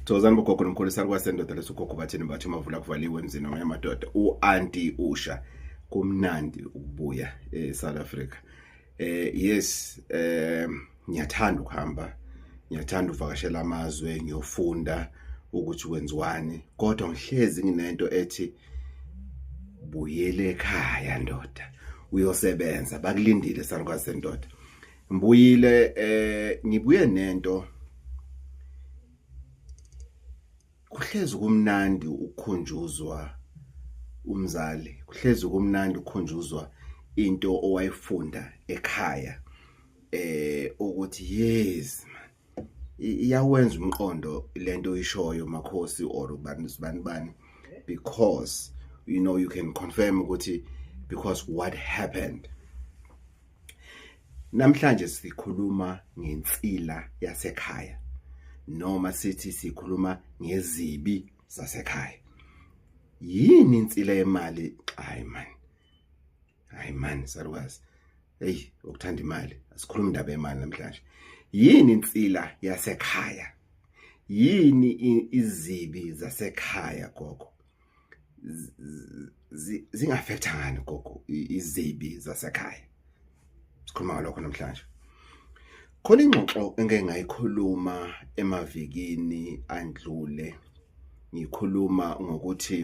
Thokozani bogogo nomkhulu saluka sendoda lesogogo bathini bathi mavula kuvaliwe emzini wamanye amadoda u-anti usha kumnandi ukubuya e-south africa eh yes eh ngiyathanda ukuhamba ngiyathanda uvakashela amazwe ngiyofunda ukuthi wenziwani kodwa ngihlezi nginento ethi buyele ekhaya ndoda uyosebenza bakulindile salukazi sendoda Mbuyile eh ngibuye nento kuhlezi kumnandi ukukhunjuzwa umzali kuhlezi kumnandi ukukhunjuzwa into owayifunda ekhaya eh ukuthi yes man iyawenza umqondo lento oyishoyo makhosi or ubani sibani bani because you know you can confirm ukuthi because what happened namhlanje sikhuluma ngensila yasekhaya noma sithi sikhuluma ngezibi zasekhaya yini insila yemali hayi manje hayi mani salukazi eyi ukuthanda imali asikhulumi indaba yemali namhlanje yini insila yasekhaya yini izibi zasekhaya gogo zingafektha ngani gogo izibi zasekhaya sikhuluma ngalokho namhlanje Khona ingxoxo engeke ngayikhuluma emavikini andlule ngikhuluma ngokuthi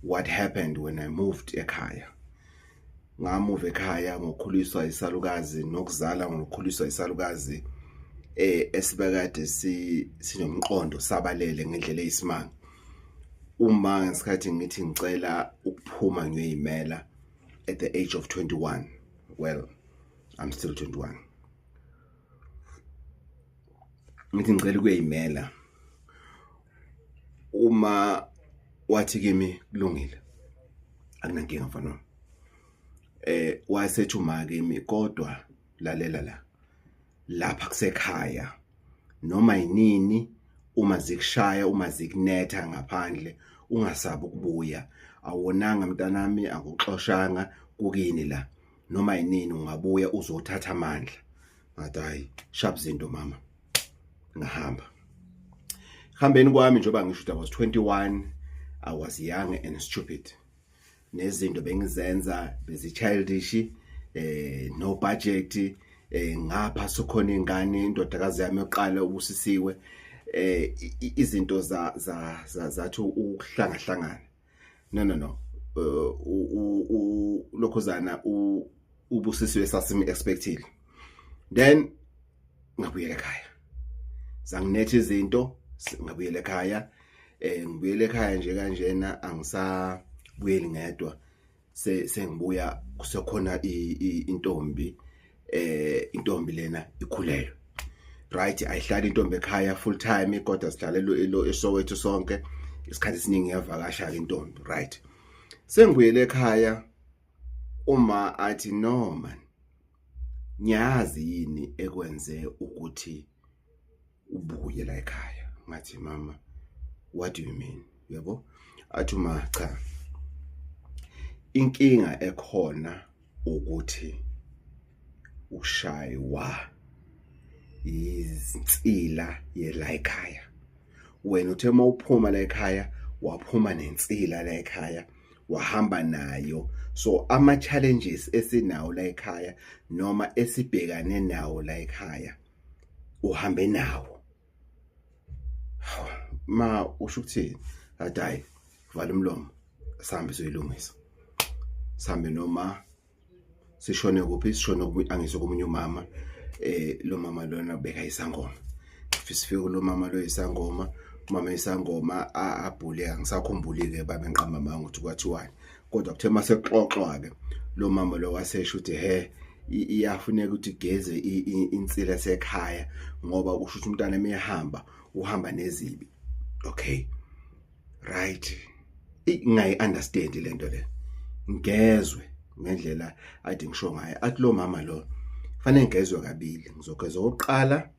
what happened when I moved ekhaya ngamuva ekhaya ngokhuliswa isalukazi nokuzala ngokhuliswa isalukazi eh esibekade si sinomqondo sabalele ngendlela eyisimanga uma ngesikhathi ngithi ngicela ukuphuma ngiyoyimela at the age of 21 well I'm still 21 ngithi ngicela ukuyimela uma wathi kimi kulungile akunankinga mfana eh wasethi uma kimi kodwa lalela la lapha kusekhaya noma yinini uma zikushaya uma zikunetha ngaphandle ungasabi ukubuya awonanga mntanami akuxoshanga kukini la noma yinini ungabuya uzothatha amandla ngathi hayi sharp zinto mama ngahamba hambeni kwami njengoba ngisho ukuthi I was 21 I was young and stupid nezinto bengizenza bezi childish eh no budget eh ngapha sokhona ingane indodakazi yami yoqala ubusisiwe eh izinto za za zathu ukuhlangahlangana no no no uh, ulokhuzana ubusisiwe esasim expectile then ngabuyela ekhaya zanginethe izinto ngabuyela ekhaya eh ngibuyela ekhaya nje kanjena angisabuyeli ngedwa se sengibuya kusekhona intombi eh intombi lena ikhulelwe right ayihlali intombi ekhaya full time kodwa sidlalelo elo esowethu sonke isikhathi esiningi yavakasha ke intombi right sengibuyele ekhaya uma athi no man ngiyazi yini ekwenze ukuthi ubuye la ekhaya ngathi mama what do you mean yabo athi uma cha inkinga ekhona ukuthi ushaywa izinsila yela ekhaya wena uthe uma uphuma la ekhaya waphuma nensila la ekhaya wahamba nayo so ama challenges esinawo la ekhaya noma esibhekane nawo la ekhaya uhambe nawo ma usho ukuthini athi hayi vala umlomo sihambe soyilungisa sihambe noma sishone kuphi sishone angizwe komunye umama eh lo mama lona beka isangoma sifike kulo mama lo isangoma umama isangoma abhule angisakhumbuli-ke babe ngiqamba manga ukuthi kwathiwani kodwa kuthe uma sekuxoxwa-ke lo mama lo wasesho ukuthi he iyafuneka ukuthi igeze insila sekhaya ngoba kusho ukuthi umntana emehamba uhamba nezibi okay right ingayi understand lento le ngezwe ngendlela athi ngisho ngayo athi lo mama lo fanele ngezwe kabili ngizogeza oqala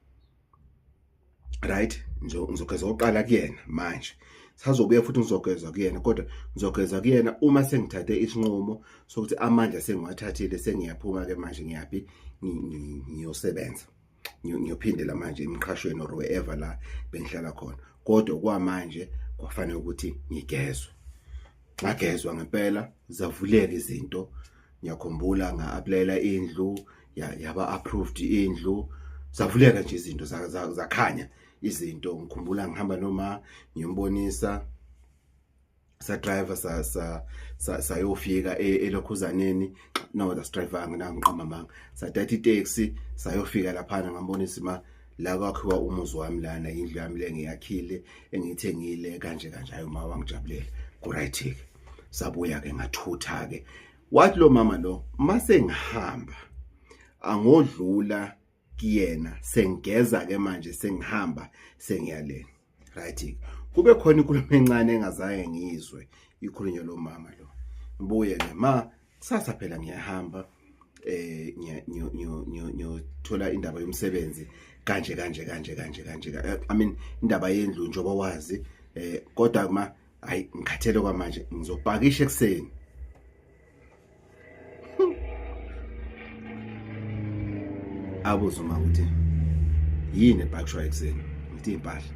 right ngizogeza oqala kuyena manje sazobuya futhi ngizogeza kuyena kodwa ngizogeza kuyena uma sengithathe isinqumo sokuthi amandla sengiwathathile sengiyaphuma ke manje ngiyaphi ngiyosebenza ngiyophindela manje emqhashweni or wherever la bengihlala khona kodwa kwamanje kwafanele ukuthi ngigezwe ngagezwa ngempela zavuleka izinto ngiyakhumbula nga-aplayela indlu yaba approved indlu zavuleka nje izinto zakhanya izinto ngikhumbula ngihamba noma ngiyombonisa sa driver sa sa sayofika e, elokhuzaneni no that's driver nginangiqamba manga sadatha itaxi sayofika lapha ngambonisa ma la kwakhiwa umuzi wami lana indlu yami le ngiyakhile engiyithengile kanje kanje ayo ma wangijabulela ku right ke sabuya ke ngathutha ke wathi lo mama lo mase ngihamba angodlula kuyena sengigeza ke manje sengihamba sengiyaleni right kube khona inkulumo encane engazange ngizwe ikhulunywa lo mama lo ngibuye ke ma kusasa phela ngiyahamba eh ngiyothola indaba yomsebenzi kanje kanje kanje kanje kanje i mean indaba yendlu njengoba wazi eh kodwa kuma hayi ngikhathele kwamanje ngizopakisha ekuseni abuze uma ukuthi yini ebhakishwa ekuseni ngithi impahla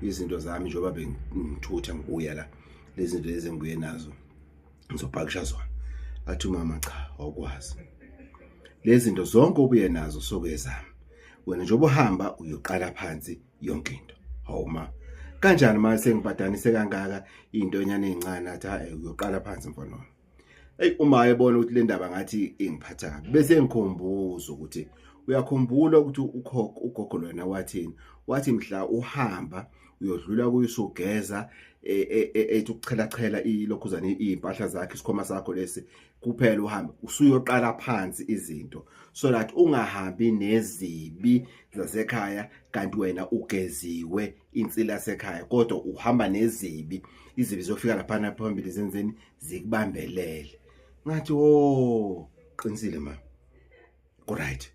izinto zami njengoba bengithutha ngikuya la lezi zinto lezi engibuye nazo ngizobhakisha zona athi umama cha awukwazi lezi zinto zonke obuye nazo sokuyezami wena njengoba uhamba uyoqala phansi yonke into hawu ma kanjani ma sengibadanise kangaka into enyane encane athi ha uyoqala phansi mfana wami ey uma ayebona ukuthi le ndaba ngathi ingiphatha kabi bese ngikhumbuza ukuthi uyakhumbula ukuthi ukhokho ugogo lona wathini wathi mhla uhamba uyodlula kuyo usugeza e, e, e, ethi ukuchela chela ilokhuzana impahla zakhe isikhoma sakho lesi kuphela uhambe usuyoqala phansi izinto so that ungahambi nezibi zasekhaya kanti wena ugeziwe insila sekhaya kodwa uhamba nezibi izibi zofika laphana phambili zenzeni zikubambelele ngathi wo qinisile ma ku right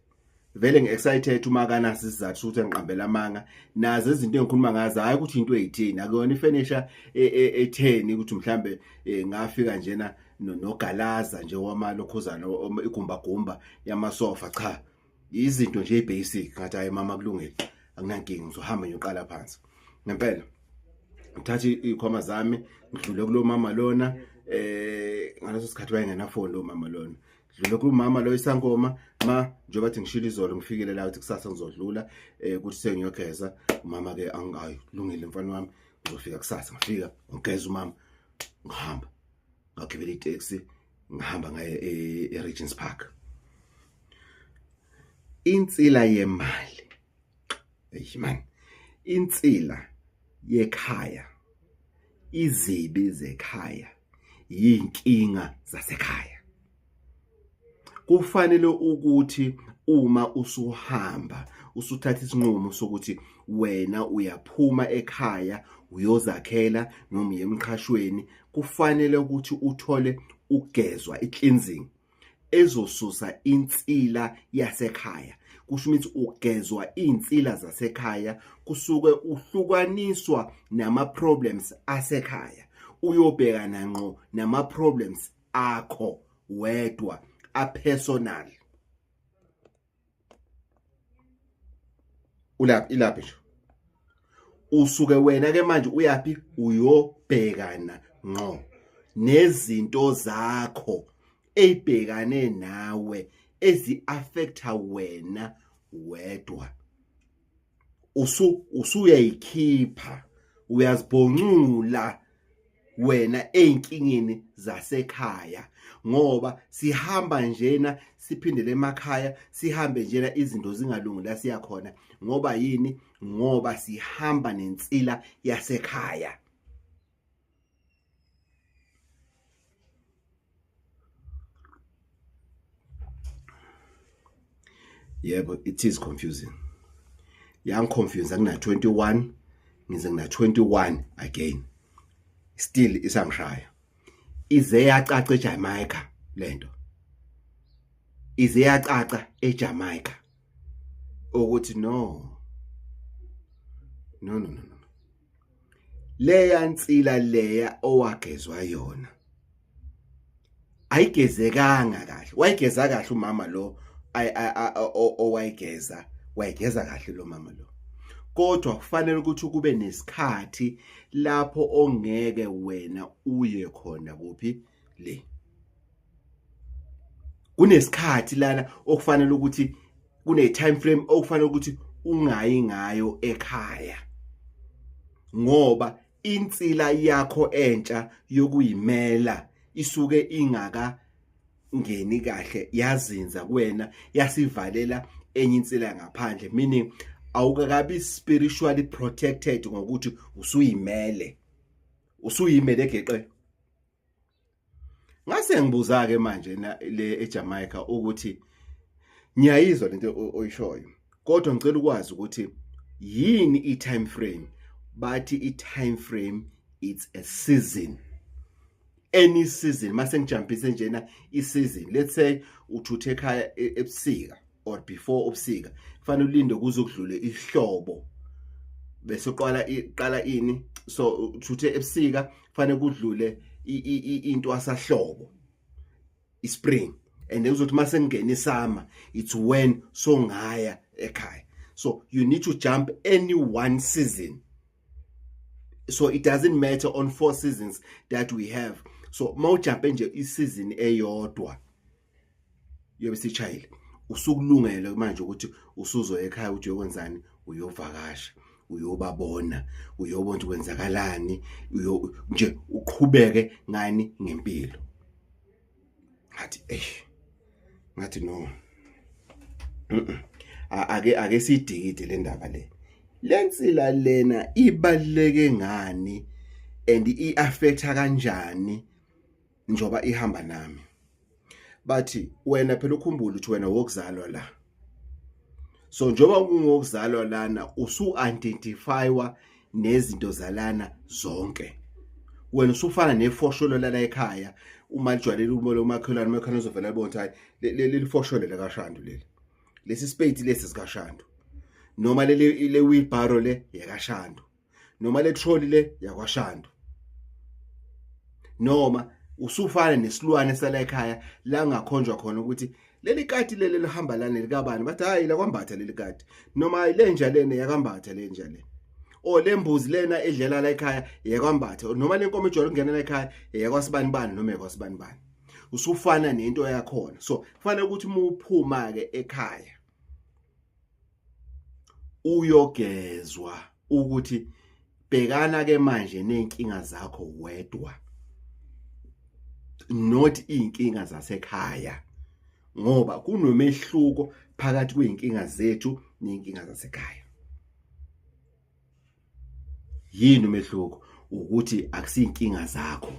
vele ngi-excited uma akanasi isizathu sokuthi angiqambela amanga nazo izinto engikhuluma ngazo hhayi ukuthi into eyithini akuyona ifenisha e, e, etheni ukuthi mhlawumbe e, ngafika njena nogalaza nje wamalokhuzana igumbagumba yamasofa cha izinto nje basic ngathi hayi mama kulungile akunankinga ngizohamba ngiyoqala phansi ngempela ngithathe ikhoma zami ngidlule kulo mama lona eh ngaleso sikhathi wayengenafoni lo mama lona dlule kumama lo isankoma ma njengoba thi ngishilo izolo ngifikele la ukuthi kusasa ngizodlula eh kuthi sengiyogeza umama ke angayo lungile mfana wami ngizofika kusasa ngifika ngigeza umama ngihamba ngagibela itaxi ngihamba ngaye eRegents e Park insila yemali eyiman insila yekhaya izibi zekhaya yinkinga zasekhaya kufanele ukuthi uma usuhamba usuthatha isinqumo sokuthi wena uyaphuma ekhaya uyozakhela noma uyemqhashweni kufanele ukuthi uthole ugezwa i-cleansing ezosusa insila yasekhaya kusho ukuthi ugezwa iy'nsila zasekhaya kusuke uhlukaniswa nama-problems asekhaya uyobhekana ngqo nama-problems akho wedwa apersonal ulaphi ilaphi nje usuke wena ke manje uyaphi uyobhekana ngqo nezinto zakho ezibhekane nawe ezi affecta wena wedwa usu usuyayikhipha uyazibhoncula wena ezinkingeni zasekhaya ngoba sihamba njena siphindele emakhaya sihambe njena izinto zingalungi la siya khona ngoba yini ngoba sihamba nensila yasekhaya yebo it is confusing yangiconfuse angina 21 ngize ngina 21 again still isangishaya ize yacaca eJamaica lento ize yacaca eJamaica ukuthi no no no no leya nsila leya owagezwa yona ayigezekanga kahle wayigeza kahle umama lo owayigeza wayigeza kahle lo mama lo kodwa kufanele ukuthi kube nesikhathi lapho ongeke wena uye khona kuphi le kunesikhathi lana okufanele ukuthi kune time frame okufanele ukuthi ungayi ngayo ekhaya ngoba insila yakho entsha yokuyimela isuke ingaka ngeni kahle yazinza kuwena yasivalela enye insila ngaphandle meaning awukakabi spiritually protected ngokuthi usuyimele usuyimele geqe ngase ngibuza ke manje le eJamaica ukuthi ngiyayizwa lento oyishoyo kodwa ngicela ukwazi ukuthi yini i time frame bathi i time frame it's a season any season mase ngijampise njena i season let's say uthuthe ekhaya e, ebusika or before ubusika kufanele ulinde kuze kudlule ihlobo bese uqala iqala ini so uthuthe ebusika kufanele kudlule into asahlobo ispring and then uzothi mase ngene isama it's when so ngaya ekhaya so you need to jump any one season so it doesn't matter on four seasons that we have so mawujumpe nje isizini eyodwa uyobe sishayile usukulungele manje ukuthi usuzoya ekhaya ukuthi uyokwenzani uyovakasha uyobabona uyobona ukuthi kwenzakalani uyo nje uqhubeke ngani ngempilo ngathi eh ngathi no ake ake sidikide le ndaba le lensila lena ibaleke ngani and iaffecta kanjani njoba ihamba nami bathi wena phela ukhumbule ukuthi wena wokuzalwa la so njoba ungokuzalwa lana usu identifywa nezinto zalana zonke wena usufana nefosholo lala ekhaya uma lijwayele umo lomakhelwane umakhelwane uzovela bona hayi leli fosholo la kashandu leli lesi spade lesi sikashandu noma leli le wheelbarrow le yakashandu noma le trolley le yakwashando noma usufana nesilwane sala ekhaya la ngakhonjwa khona ukuthi leli kati leli lihamba lana likabani bathi hayi la kwambatha leli kati noma hayi lenja lena yakambatha lenja lena o lembuzi lena edlela la ekhaya yakwambatha noma lenkomo ejwayele ukungena la ekhaya yakwasibani bani noma yakwasibani bani usufana nento yakhona so kufanele ukuthi uma uphuma ke ekhaya uyogezwa ukuthi bhekana ke manje nenkinga zakho wedwa not inkinga zasekhaya ngoba kunomehluko phakathi kweinkinga zethu nenkinga zasekhaya yini umehluko ukuthi akusinkinga zakho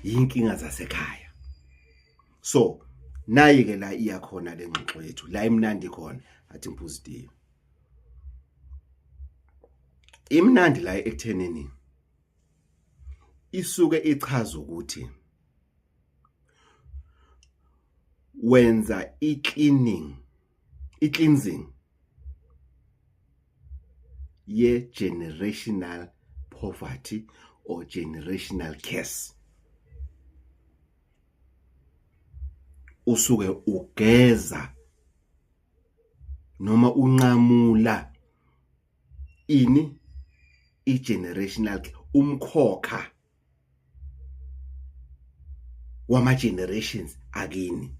yinkinga zasekhaya so nayi ke la iya khona le ngxoxo yethu la imnandi khona athi ngiphuzitive imnandi la ekuthenini isuke ichaza ukuthi wenza i-cleaning i-cleansing ye-generational poverty or generational curse usuke ugeza noma unqamula ini i-generational umkhokha wama generations akini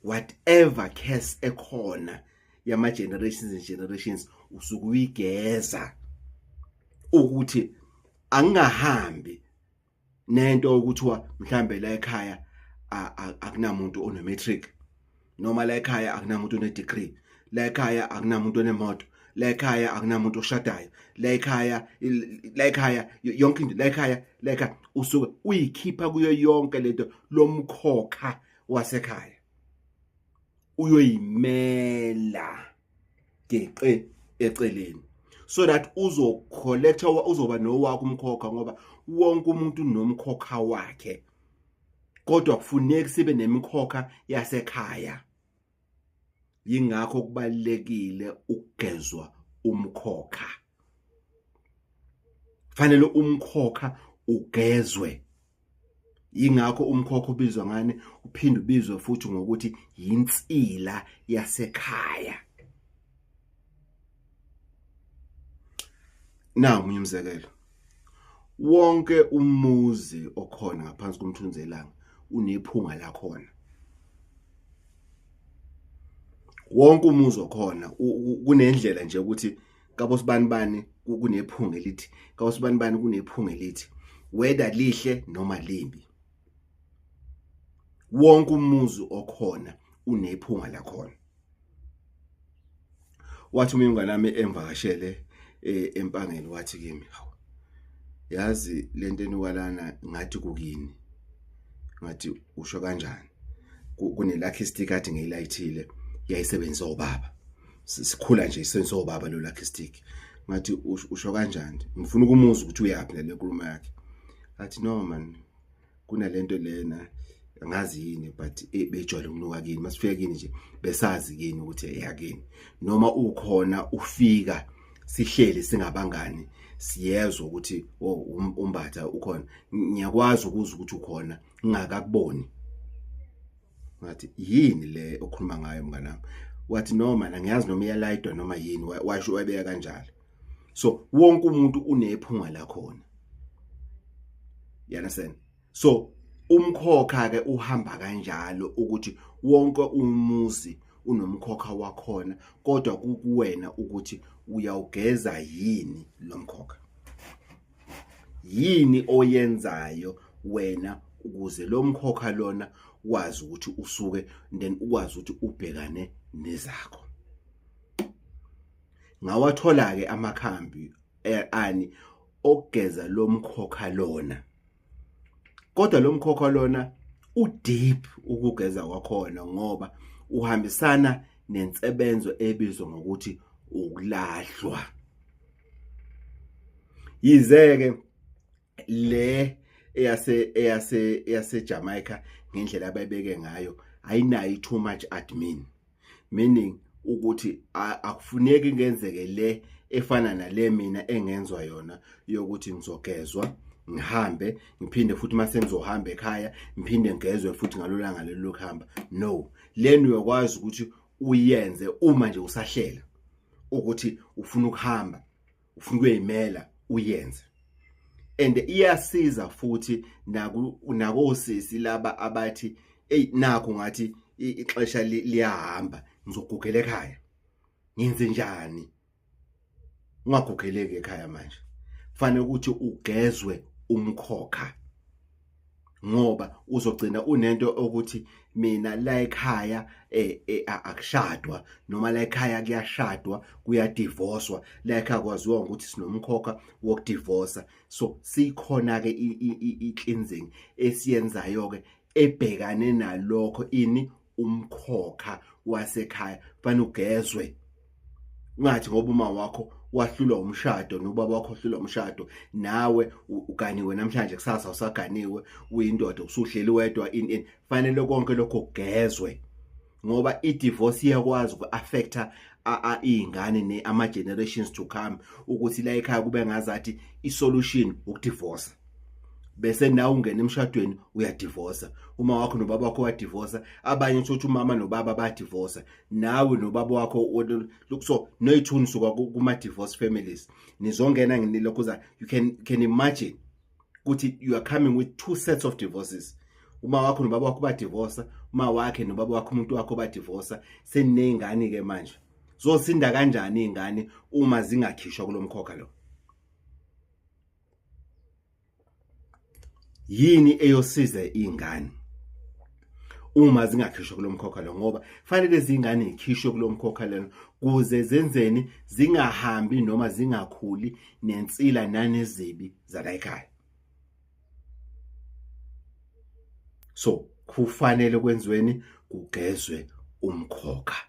whatever curse ekhona yama generations and generations usuke uyigeza ukuthi angingahambi nento okuthiwa mhlambe la ekhaya akunamuntu onometric noma la ekhaya akunamuntu onedegree la ekhaya akunamuntu onemoto la ekhaya akunamuntu oshadayo la ekhaya la ekhaya yonke into la ekhaya la ekhaya usuke uyikhipha kuyo yonke lento lomkhokha wasekhaya uyoyimela geqe eceleni so that uzocollecta uzoba nowakho umkhokha ngoba wonke umuntu unomkhokha wakhe kodwa kufuneki sibe nemikhokha yasekhaya yingakho kubalekile ukugezwa umkhokha fanele umkhokha ugezwe yingakho umkhokha ubizwa ngani uphinde ubizwe futhi ngokuthi yinsila yasekhaya na umunye umzekelo wonke umuzi okhona ngaphansi komthunzelanga unephunga lakhona wonke umuzi okhona kunendlela nje ukuthi kabosibanibani kunephunga elithi kabosibanibani kunephunga elithi whether lihle noma limbi wonke umuzi okhona unephunga lakhona wathi uma ingane yami engivakashele eh, empangeni wathi kimi hawu yazi lento eniwalana ngathi kukini ngathi usho kanjani kunelakhe istikati ngeyilayithile yayisebenzisa ubaba sikhula nje isenso baba lo lucky stick ngathi usho kanjani ngifuna ukumuzwa ukuthi uyaphi nale nkulumo yakhe athi no man kunalento lena angazi yini but eh, bejwayele ukunuka kini masifika kini nje besazi kini ukuthi eyakini noma ukhona ufika sihleli singabangani siyezwa ukuthi oh, um, umbatha ukhona ngiyakwazi ukuzwa ukuthi ukhona ngingakakuboni ngathi yini le okhuluma ngayo mnganami wathi no mana ngiyazi noma iyalayidwa noma yini washo wayibeka kanjalo so wonke umuntu unephunga la khona you understand so umkhokha ke uhamba kanjalo ukuthi wonke umuzi unomkhokha wakhona kodwa kukuwena ukuthi uyawugeza yini lomkhokha yini oyenzayo wena ukuze lo mkhokha lona wazi ukuthi usuke then ukwazi ukuthi ubhekane nezakho ngawathola ke amakhambi eh, ani okugeza lo mkhokha lona kodwa lo mkhokha lona udeep ukugeza kwakhona ngoba uhambisana nensebenzo ebizwa ngokuthi ukulahlwa yize ke le eyase eyase eyase Jamaica ngendlela ababeke ngayo ayinayo too much admin meaning ukuthi akufuneki ngenzeke le efana nale mina engenzwa yona yokuthi ngizogezwa ngihambe ngiphinde futhi mase ngizohamba ekhaya ngiphinde ngigezwe futhi ngalolanga lelo kuhamba no leni uyokwazi ukuthi uyenze uma nje usahlela ukuthi ufuna ukuhamba ufuna ukuyimela uyenze and iyasiza futhi naku nakosisi laba abathi hey nakho ngathi ixesha liyahamba ngizogugela ekhaya ngenze njani ungagugeleki ekhaya manje kufanele ukuthi ugezwe umkhokha ngoba uzogcina unento ukuthi mina la ekhaya eh, eh, akushadwa noma la ekhaya kuyashadwa kuyadivoswa la ekhaya kwaziwa ukuthi sinomkhokha wokudivosa so sikhona ke i-cleansing esiyenzayo ke ebhekane nalokho ini umkhokha wasekhaya fana ugezwe ungathi ngoba uma wakho wahlulwa umshado nobaba wakho wahlulwa umshado nawe uganiwe namhlanje kusasa usaganiwe uyindoda usuhleli wedwa in in fanele konke lokho kugezwe ngoba i-divorce iyakwazi uku-affecta iy'ngane ne ama-generations to come ukuthi la ekhaya kube ngazathi i-solution ukudivosa bese nawe ungena emshadweni uyadivosa uma wakho nobaba wakho wadivosa abanye thothi umama nobaba badivosa nawe nobaba wakho so noyithuni suka kuma divorce families nizongena nginilokhuza you can can imagine ukuthi you are coming with two sets of divorces uma wakho nobaba wakho badivorsa uma wakhe nobaba wakho umuntu wakho badivorsa seneyingane ke manje zosinda kanjani izingane uma zingakhishwa kulomkhokha lo yini eyosiza izingane uma zingakhishwa kulo mkhokha lo ngoba fanele zingane ikhishwe kulo mkhokha lena kuze zenzeni zingahambi noma zingakhuli nensila nanezibi zalayikhaya so kufanele kwenziweni kugezwe umkhokha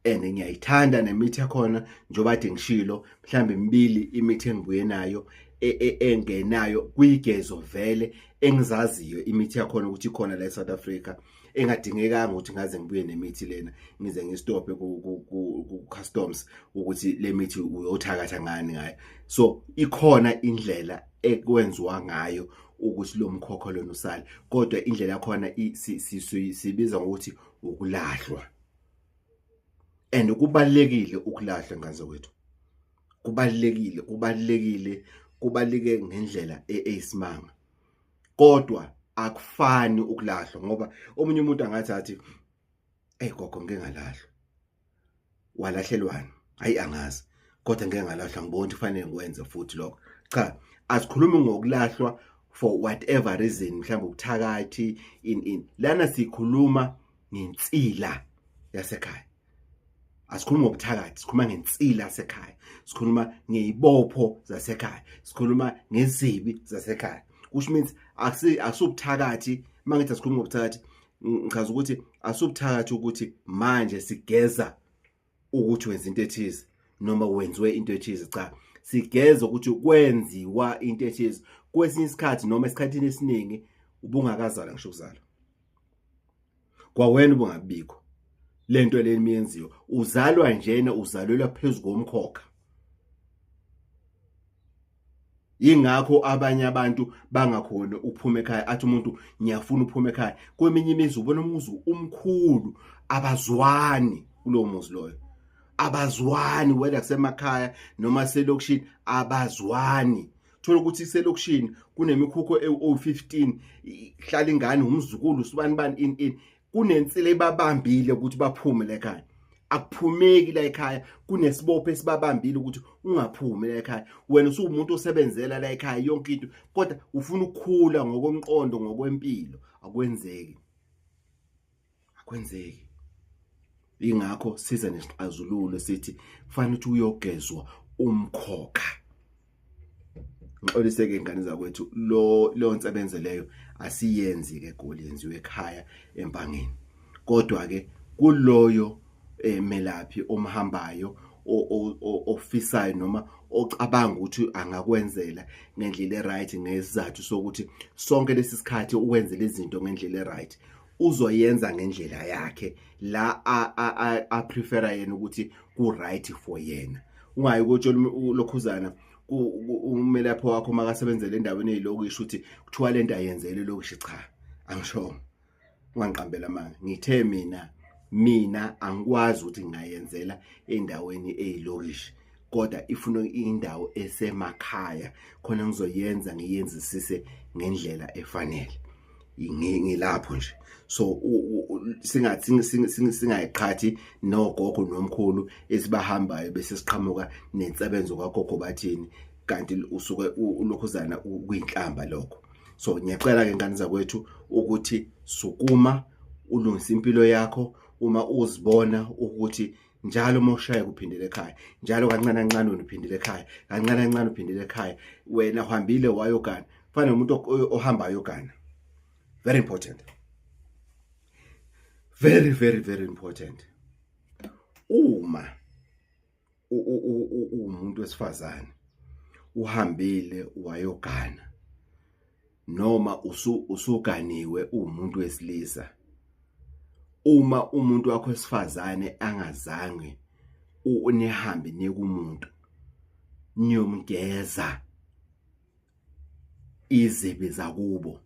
and ngiyayithanda nemithi yakhona njengoba ade ngishilo mhlawumbe imibili imithi engibuye nayo e, e, engenayo kuyigezo vele engizaziyo imithi yakhona ukuthi ikhona la eSouth Africa engadingekanga ukuthi ngaze ngibuye nemithi lena ngize ngistophe ku customs ukuthi lemithi uyothakatha ngani ngayo so ikhona indlela ekwenziwa ngayo ukuthi lo mkhokho lona usale kodwa indlela yakhona sibiza ngokuthi ukulahlwa and kubalekile ukulahla nganze wethu kubalekile kubalekile kubalike ngendlela e-, eyisimanga kodwa akufani ukulahlwa ngoba omunye umuntu angathi athi hey gogo ngeke ngalahlwa walahlelwani hayi angazi kodwa ngeke ngalahlwa ngibona ukuthi kufanele ngikwenze futhi lokho cha asikhulumi ngokulahlwa for whatever reason mhlawumbe ubuthakathi in in lana sikhuluma ngensila yasekhaya asikhulumi ngobuthakathi sikhuluma ngensila yasekhaya sikhuluma ngeyibopho zasekhaya sikhuluma ngezibi zasekhaya which means akusubuthakathi uma ngithi asikhulumi ngobuthakathi ngichaza ukuthi asubuthakathi ukuthi manje sigeza ukuthi wenza into ethize noma wenziwe into ethize cha sigeza ukuthi kwenziwa into ethize kwesinye isikhathi noma esikhathini esiningi ubungakazala ngisho ukuzala kwawena ubungabikho lento leni miyenziwa uzalwa njena uzalelwa phezulu komkhokha yingakho abanye abantu bangakhoni ukuphuma ekhaya athi umuntu ngiyafuna ukuphuma ekhaya kweminye imizi ubona umuzi umkhulu abazwani kulowo muzi loyo abazwani whether kusemakhaya noma selokishini abazwani thola ukuthi iselokishini kunemikhukho ewu-15 hlala ingane umzukulu usibani bani in in kunensila ibabambile ukuthi baphume la ekhaya akuphumeki la ekhaya kunesibopho esibabambile ukuthi ungaphumi la ekhaya wena usuwumuntu osebenzela la ekhaya yonke into kodwa ufuna ukukhula ngokomqondo ngokwempilo akwenzeki akwenzeki ingakho siza nesixazululo sithi kufanele ukuthi uyogezwa umkhokha ngixoliseke ingane zakwethu lo lo nsebenze leyo asiyenzi ke goli yenziwe ekhaya empangeni kodwa ke kuloyo eh, melaphi omhambayo o- o- o- ofisayo noma ocabanga ukuthi angakwenzela ngendlela eright ngesizathu sokuthi sonke lesi sikhathi uwenze lezi zinto ngendlela eright uzoyenza ngendlela yakhe la a prefera yena ukuthi ku right for yena ungayi kotshola lokhuzana umelaphi wakho makasebenzele endaweni eyilokishi ukuthi kuthiwa lento ayenzele lokishi cha angisho ungangiqambela manga ngithe mina mina angikwazi ukuthi ngingayenzela endaweni eyilokishi kodwa ifuna indawo esemakhaya khona ngizoyenza ngiyenzisise ngendlela efanele ngilapho nje so singathi singayiqhathi nogogo nomkhulu esibahambayo bese siqhamuka nensebenzo kwagogo bathini kanti usuke ulokhuzana kuyinhlamba lokho so ngiyacela ke ngane zakwethu ukuthi sukuma ulungise impilo yakho uma uzibona ukuthi njalo uma ushayeka uphindele ekhaya njalo kancane kancane wena uphindele ekhaya kancane kancane uphindele ekhaya wena uhambile wayogana fana nomuntu ohamba ayogana very important very very very important uma uwumuntu wesifazane uhambile wayogana noma usu usuganiwe umuntu wesilisa uma umuntu wakho esifazane angazange unihambe nekumuntu niyomgeza izibi zakubo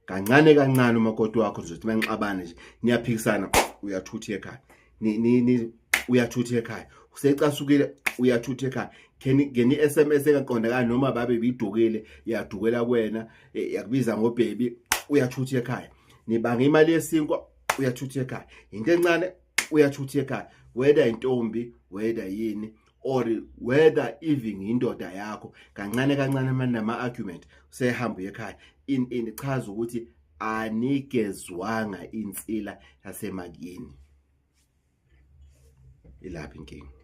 kancane kancane umakoti wakho uzothi manixabane nje niyaphikisana uyathutha ekhaya ni ni, ni uyathutha ekhaya usecasukile uyathutha ekhaya ngeni SMS engaqondakala noma babe bidukile yadukela kuwena e, yakubiza ngobhebi uyathutha ekhaya nibanga imali yesinkwa uyathutha ekhaya into encane uyathutha ekhaya whether intombi whether yini or whether even indoda yakho kancane kancane manje nama argument usehamba uye ekhaya in in chaza ukuthi anigezwanga insila yasemakini ilapha inkinga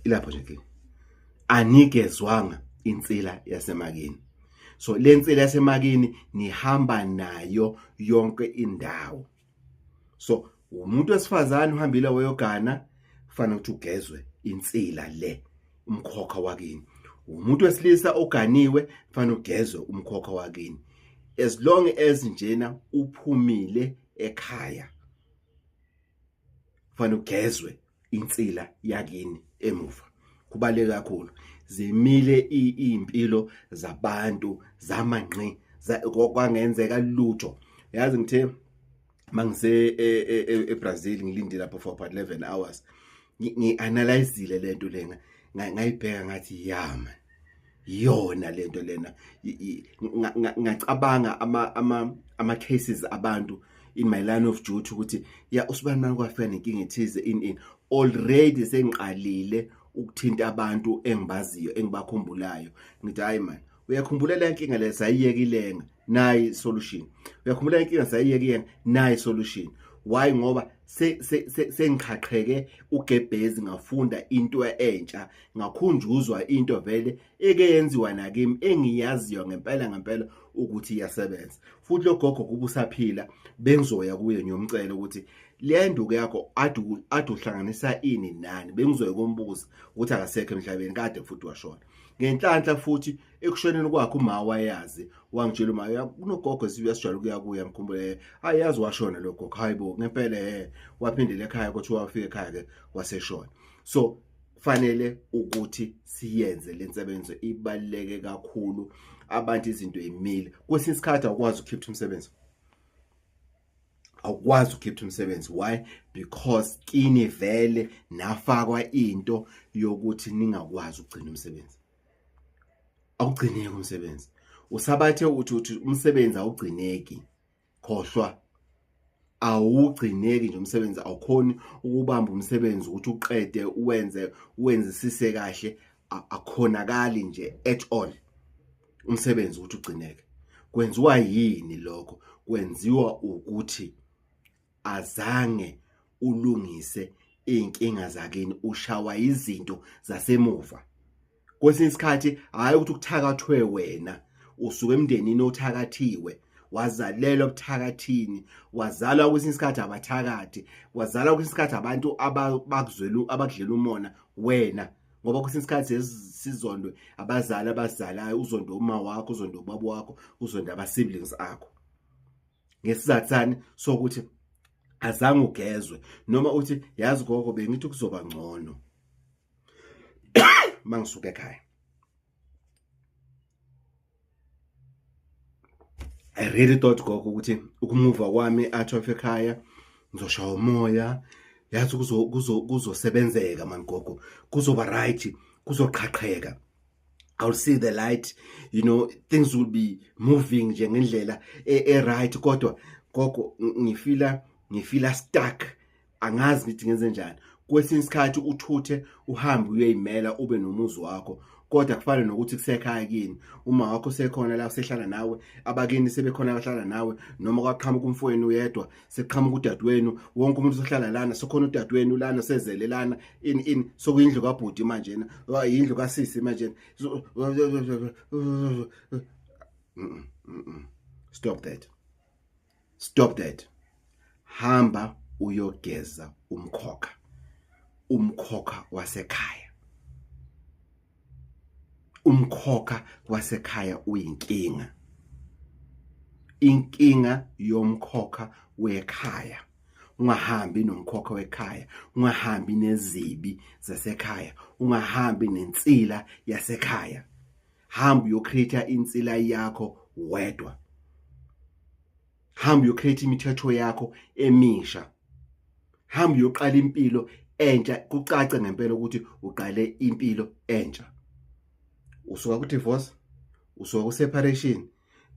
ilapho nje inkinga anigezwanga insila yasemakini so le nsila yasemakini nihamba nayo yonke indawo so umuntu wesifazane uhambile wayogana kufanele ukuthi ugezwe insila le umkhokha wakini umuntu wesilisa oganiwe kufanele ugezwe umkhokha wakini as long as njena uphumile ekhaya kufanele ugezwe insila yakini emuva kubaleke kakhulu zimile impilo zabantu zamangqi kwangenzeka lutho yazi ngithe mangise eBrazil e, e, e, ngilinde lapho for about 11 hours ngianalyzile lento lena ngayibheka ngathi yama yona lento lena ngacabanga ama ama ama cases abantu in my line of duty ukuthi ya usibani manje kwafika nenkinga ethize in in already sengiqalile ukuthinta abantu engibaziyo engibakhumbulayo ngithi hayi man uyakhumbula le nkinga le sayiyekilenga nayi solution uyakhumbula inkinga sayiyeke yena nayi solution why ngoba sengiqhaqheke se, se, se ugebhezi ngafunda into entsha ngakhunjuzwa into vele eke yenziwa nakimi engiyaziyo ngempela ngempela ukuthi iyasebenza futhi logogo kuba usaphila bengizoya kuye ngiyomcela ukuthi le nduku yakho ade ade uhlanganisa ini nani bengizoye kombuza ukuthi akasekho emhlabeni kade futhi washona ngenhlanhla futhi ekushoneni kwakhe uma wayazi wangitshela uma kunogogo siyasijwayela ukuya kuye ngikhumbule hayi yazi washona lo gogo hayi bo ngempela he waphindela ekhaya kuthiwa wafika ekhaya ke waseshona so kufanele ukuthi siyenze le nsebenzo ibaluleke kakhulu abantu izinto imile kwesinye isikhathi awukwazi ukukhipha umsebenzi awukwazi ukukhipha umsebenzi why because kini vele nafakwa into yokuthi ningakwazi ukugcina umsebenzi awugcineki umsebenzi usabathe uthi uthi umsebenzi awugcineki khohlwa awugcineki nje umsebenzi awukhoni ukubamba umsebenzi ukuthi uqede uwenze uwenzisise kahle akhonakali nje at all umsebenzi ukuthi ugcineke kwenziwa yini lokho kwenziwa ukuthi azange ulungise izinkinga zakini ushawa izinto zasemuva kwesinye isikhathi hayi ukuthi ukuthakathwe wena usuke emndenini othakathiwe wazalelwa kuthakathini wazalwa kwesinye isikhathi abathakathi wazalwa kwesinye isikhathi abantu abakuzwela abakudlela umona wena ngoba kwesinye isikhathi sizondwe abazali abazalayo uzondwe uma wakho uzondwe ubaba wakho uzondwe ama-siblings akho ngesizathu sani sokuthi azange ugezwe noma uthi yazi gogo bengithi kuzoba ngcono mangisuka ekhaya I really thought gogo ukuthi ukumuva kwami athi of ekhaya ngizoshaya umoya yazi kuzo kuzo kuzosebenzeka man gogo kuzoba right kuzoqhaqheka I'll see the light you know things will be moving nje ngendlela e, e right kodwa gogo ngifila ngifila stuck angazi ngithi ngenze njani kwesinye isikhathi uthuthe uhambe uyoyimela ube nomuzi wakho kodwa kufana nokuthi kusekhaya kini uma wakho sekhona la usehlala nawe abakini sebekhona abahlala nawe noma kwaqhamuka umfowenu uyedwa seqhamuka udadewenu wonke umuntu sohlala lana sokhona udadewenu lana sezele lana in in sokuyindlu kabhuti manje na yindlu kasisi manje stop that stop that hamba uyogeza umkhokha umkhokha wasekhaya umkhokha wasekhaya uyinkinga inkinga yomkhokha wekhaya ungahambi nomkhokha wekhaya ungahambi nezibi zasekhaya ungahambi nensila yasekhaya hamba uyocreate insila yakho wedwa hamba uyo create imithetho yakho emisha hamba uyoqala impilo entsha kucace ngempela ukuthi uqale impilo entsha usuka ku divorce usuka ku separation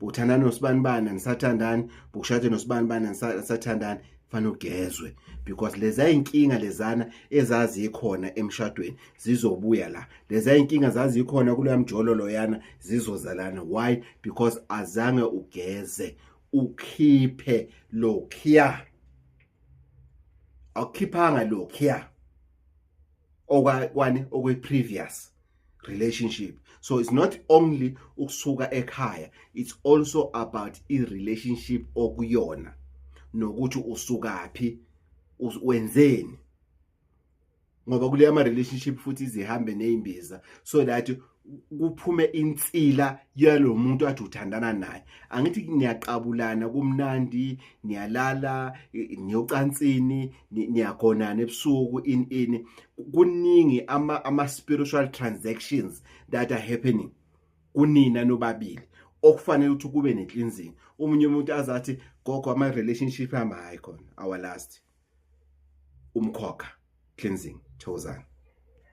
buthandana nosibani bani nisathandani bukushade nosibani bani nisathandani fanele ugezwe because leza inkinga lezana ezazikhona emshadweni zizobuya la leza inkinga zazikhona kuleya mjololo yana zizozalana why because azange ugeze ukhiphe lokhiya awukhiphanga lokhiya okwa kwani okwe previous relationship so it's not only ukusuka ekhaya it's also about i relationship okuyona nokuthi usukaphi wenzeni ngoba kuleya ama relationship futhi izihambe nezimbiza so that kuphume insila yalomuntu athi uthandana naye angithi ngiyaqabulana kumnandi ngiyalala ngiyocansini niyagonana ebusuku in in kuningi ama ama spiritual transactions that are happening kunina nobabili okufanele ukuthi kube ne cleansing umunye umuntu azathi gogo ama relationship ama hayi khona our last umkhokha cleansing thozana